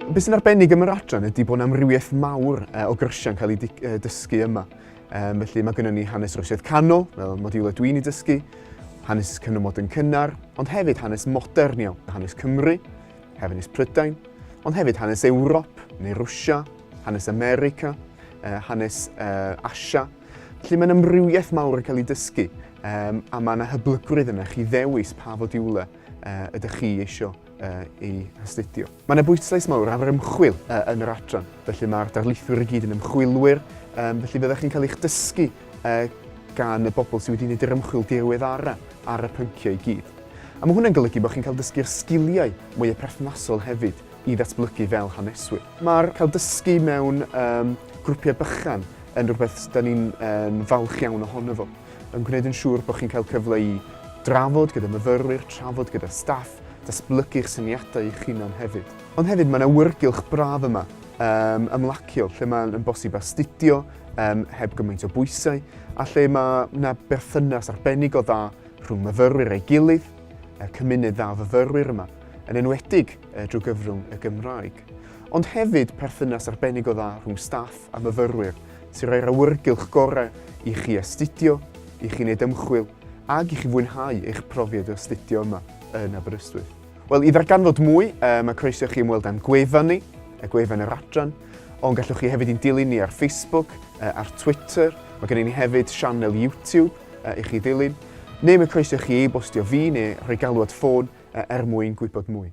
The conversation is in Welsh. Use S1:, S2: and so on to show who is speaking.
S1: Beth sy'n arbennig am yr adran ydy bod yna amrywiaeth mawr o gyrsiau'n cael ei dysgu yma. Um, felly mae gennym ni hanes Rwsiaidd canol, fel modiwlau dwi'n ei dysgu, hanes cynymod yn cynnar, ond hefyd hanes modern iawn, hanes Cymru, hanes Prydain, ond hefyd hanes Ewrop neu Rwysia, hanes America, hanes Asia, Felly mae'n amrywiaeth mawr yn cael ei dysgu um, a mae yna hyblygrwydd yna chi ddewis pa fodiwle uh, ydych chi eisiau uh, ei hastudio. Mae yna bwyslais mawr ar yr ymchwil uh, yn yr adran, felly mae'r darlithwyr i gyd yn ymchwilwyr, um, felly fyddwch chi'n cael eich dysgu uh, gan y bobl sydd wedi gwneud yr ymchwil diweddarau ar y pynciau i gyd. A mae hwnna'n golygu bod chi'n cael dysgu'r sgiliau mwy y perthnasol hefyd, i ddatblygu fel haneswyr. Mae'r cael dysgu mewn grwpiau bychan yn rhywbeth sydd da ni'n falch iawn ohono fo, yn gwneud yn siŵr bod chi'n cael cyfle i drafod gyda myfyrwyr, trafod gyda staff, datblygu'ch syniadau eich hunan hefyd. Ond hefyd mae'n awyrgylch braf yma, ymlaciol, lle mae'n bosib astudio heb gymaint o bwysau a lle mae yna berthynas arbennig o dda rhwng myfyrwyr a'i gilydd, y cymuned dda o fyfyrwyr yma, yn enwedig drwy gyfrwng y Gymraeg. Ond hefyd perthynas arbennig o dda rhwng staff a myfyrwyr sy'n rhoi'r awyrgylch gorau i chi astudio, i chi wneud ymchwil ac i chi fwynhau eich profiad o astudio yma yn Aberystwyth. Wel, i ddarganfod mwy, mae croeso i chi ymweld â'n gwefan ni, y gwefan yr adran, ond gallwch chi hefyd i'n dilyn ni ar Facebook, ar Twitter, mae gennym ni hefyd sianel YouTube, a i chi ddilyn, neu mae croeso i chi e-bostio fi neu rhoi galw at ffôn er mwyn gwybod mwy.